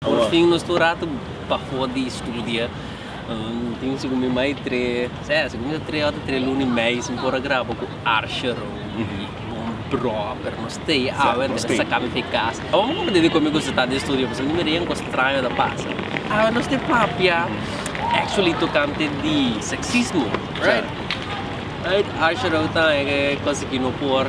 Porfin nos ta un ratu pafó di studia. Tin sigur mi mai tre, sè, sigur mi ta tre ota tre luna i meis mi por a graba ku Archer o un brò, pero nos ta ei awe anto mi ta saka mi fe kas. Abo mi konprende dikon mi gusta ta den studio pasobra mi mira ei un kos straño ta pasa. Awe nos ta papia actually tokante di seksismo, right? Right, Archer a ota konsegui no por.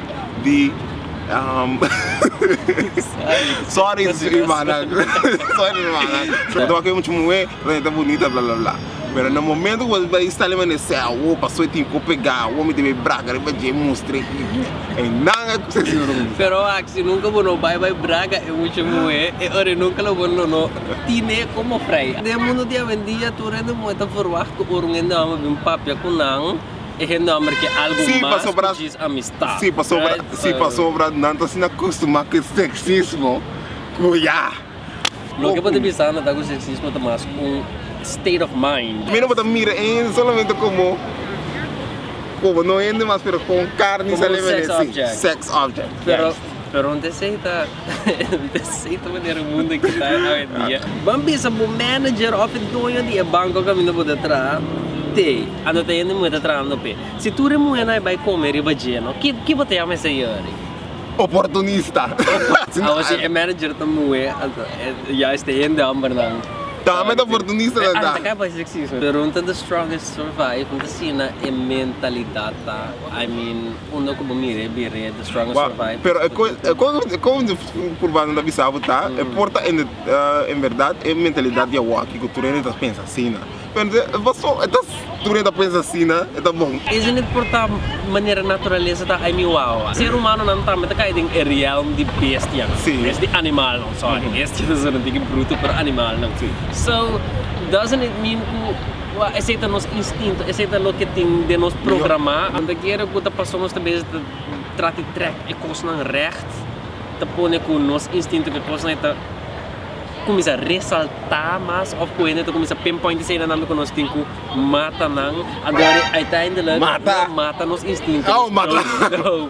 di um, sorry hermana sorry hermana pero toma que mucho muhe pero está bonita bla bla bla pero no momento que vai estar ali mene se awo paso tin ko pega awo mi debe braga riba je mustre e nanga que se sino pero axi nunca bono bai bai braga e mucho muhe e ore nunca lo bono no tine como fray de mundo dia ben dia tu rende muhe ta verwacht ko orungende ama bin papia kunan E hende homber ke algo mas ku djis amistad, right? Si, pasobra, si, pasobra nan ta asina costumá ku e sexismo ku ya. Loke bo ta bisa nan ta ku sexismo ta mas un state of mind. Mi no bo ta mira e hende solamente komo, komo no hende mas pero komo un karni sa le mene, si, sex object. Pero, pero nan ta esei ta. Desei ta manera e mundo aki ta awendia. Ban bisa bo manager of e doño di e banco caminda bo ta traha te a no ta hende muhe ta trahando p'e. Si tur e muhe na e bay come riba dje no ki ki bo ta yama esa yori? Oportunista. Awo si e manager ta muhe ya este hende homber nan. Tama e ta oportunista nan ta. Anta kai bay sexismo. Pero un ta the strongest survive un ta sina e mentalidad ta I mean. Unda ku bo mira e birria e The Strongest Survive? Pero e kos e kos e kos di Urbano ta bisa bo ta, e por ta en en berdad e mentalidad di awo aki ku tur hende ta pensa asina. Pero entonces e paso e ta tur hende ta pensa asina e ta bon. Esei no por ta manera naturalesa ta ai mi wawa. Ser humanonan tambe ta kai den e realm di bestianan, bes di animalnan, sorry, bestianan su nan tin ki bruto pero animalnan. So doesn't it mean ku. Ua, esei ta nos instinto, esei ta loke tin den nos programá. Donde kiera ku ta pasó nos ta bese ta trata di trèk e kosnan règt, ta pone ku nos instinto ku e kosnan ta kuminsá resaltá mas òf ku hende ta kuminsá pinpoint esei nan nambe ku nos tin ku mata nan. Ador e eindelijk lo mata nos instinto.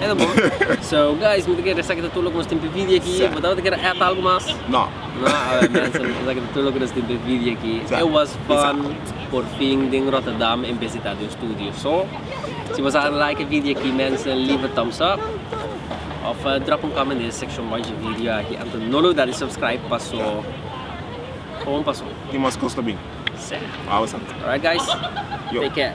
Esa bon. So guys mi ta kere esaki ta tur loke nos tin pe vidia aki bo tabata kere et algo mas? No. No awor mensen esaki ta tur loke nos tin pe vidia aki it was fun por fin den Rotterdam en besita den studio so si bo sa a like e vidia aki mensen leave a thumbs up of drop un comment den section watch de vidio aki anto no lo da di subscribe paso kon paso tin mas cos ta bin se awor sa alright guys take care.